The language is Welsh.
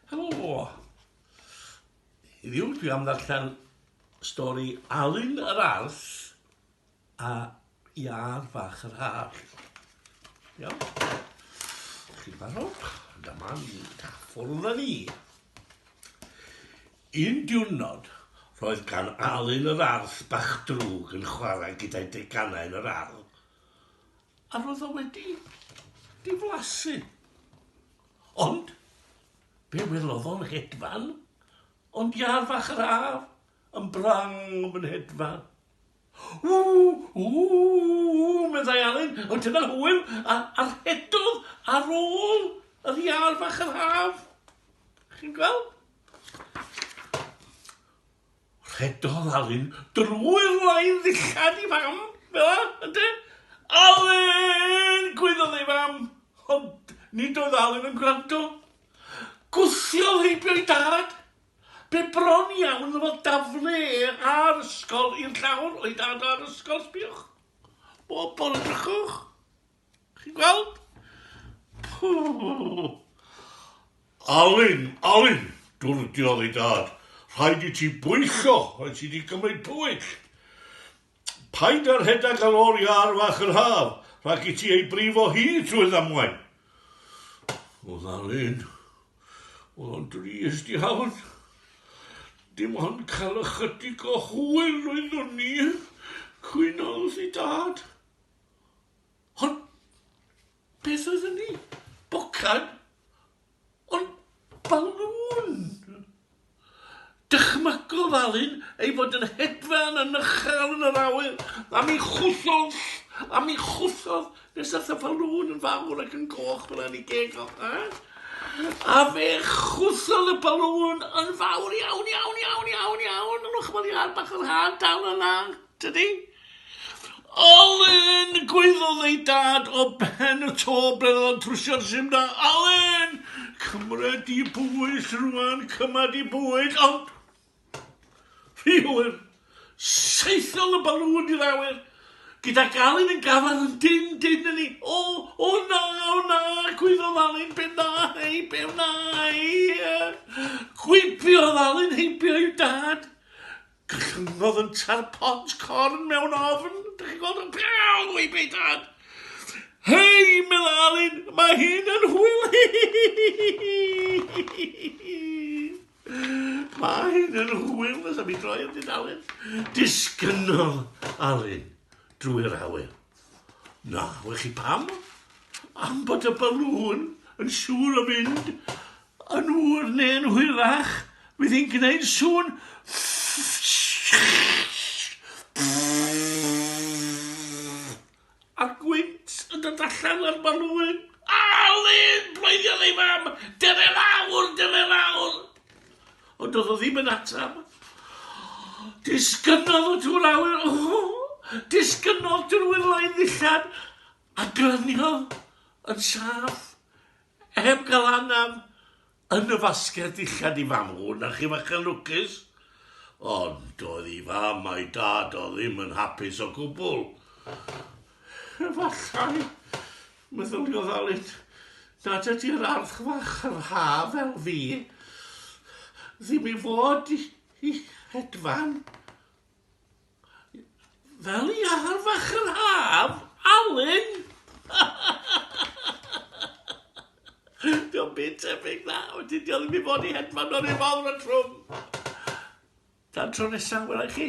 Helo! Heddiw dwi am ddarllen stori Alun yr Arth a Iâr Fach yr Haf. Iawn? Chi'n barod? Dyma ni. Ffwrdd â ni. Un diwrnod, roedd gan Alun yr Arth bach drwg yn chwarae gyda'i deganau yn yr ardd. A roedd o wedi diflasu. Ond, be welodd o'n hedfan? Ond iâr fach yr haf, yn brang yn fy nhedfan. Ww, ww, ww, meddai Alun, ond dyna hwyl, a, a rhedodd ar ôl yr iâr fach yr haf. Chi'n gweld? Rhedodd Alun drwy'r lain ddillad i Fam, fela, ynde? Alun! gwaeddodd ei fam, ond nid oedd Alun yn gwrando. Gwthiodd heibio ei dad. Be bron iawn ddyfodd daflu e a'r ysgol i'r llawr, o'i dad a'r ysgol, sbiwch. Bob bore drychwch. Chi'n gweld? Pww! Alun, Alun, dwrdiodd ei dad, rhaid i ti bwyllgo, rhaid ti di cymryd pwyll. Paid â rhedeg ar ôl iâr fach yr haf, rhag i ti ei brifo hi trwy ddamwain. Oedd Alun, oedd o'n drist iawn. Dim ond cael ychydig o hwyl oeddwn ni, cwynodd ei dad. Ond beth oedd hynny? Bocad? Ond balŵn! Dychmygodd Alun ei fod yn hedfan yn uchel yn yr awyr, a mi chwythodd, a mi chwythodd, nes ath y balŵn yn fawr ac yn goch fel hynny geg o. A fe chwythodd y balŵn yn fawr iawn, iawn, iawn, iawn, iawn, yn ochr iâr bach yr hâ dal yna, tydi? Alun! Gwaeddodd ei dad o ben y to ble oedd o'n trwsio'r sim da. Alun! Cymra di bwys rwan, cymra di bwys, ond... Rhy hwyr! Saethodd y balŵn i'r awyr, gydag Alun yn gafael yn dyn dyn yn ni. O, o na, o na, gwaeddodd Alun, be na, hei, be wna i? Gwibiodd Alun heibio i'w dad. Cychwynnodd yn tar pont corn mewn ofn. Dych chi'n gweld yn prawd o'i byd dad. Hei, meddwl Alun, mae hyn yn hwyl. mae hyn yn hwyl, nes am i droi yn dyn Alun. Disgynnodd Alun drwy'r awyr. Na, wych chi pam? Am bod y balŵn yn siŵr o fynd yn ŵr neu'n hwyrach, fydd hi'n gwneud sŵn a gwynt yn dod allan o'r balŵn. Alun! Bloediodd ei fam. Dyfe lawr, dyfe lawr! Ond doedd o ddim yn atab. Disgynnodd y tŵr awyr, o! Disgynnodd drwy loedd ddillad a glyniodd yn saff, heb gael anaf, yn y fasged ddillad i fam hwn a chi fach yn lwcus. Ond doedd i fam a'i dad o ddim yn hapus o gwbl. Efallai, Meddylia ddalent nad ydy'r ardd fach yr haf fel fi ddim i fod i hedfan fel i ardd fach yr haf, Alun! Dio'm byd tebyg na, wedyn dio ddim i fod i hedfan o'r un fawr a trwm. Tan tro nesa, wela i chi.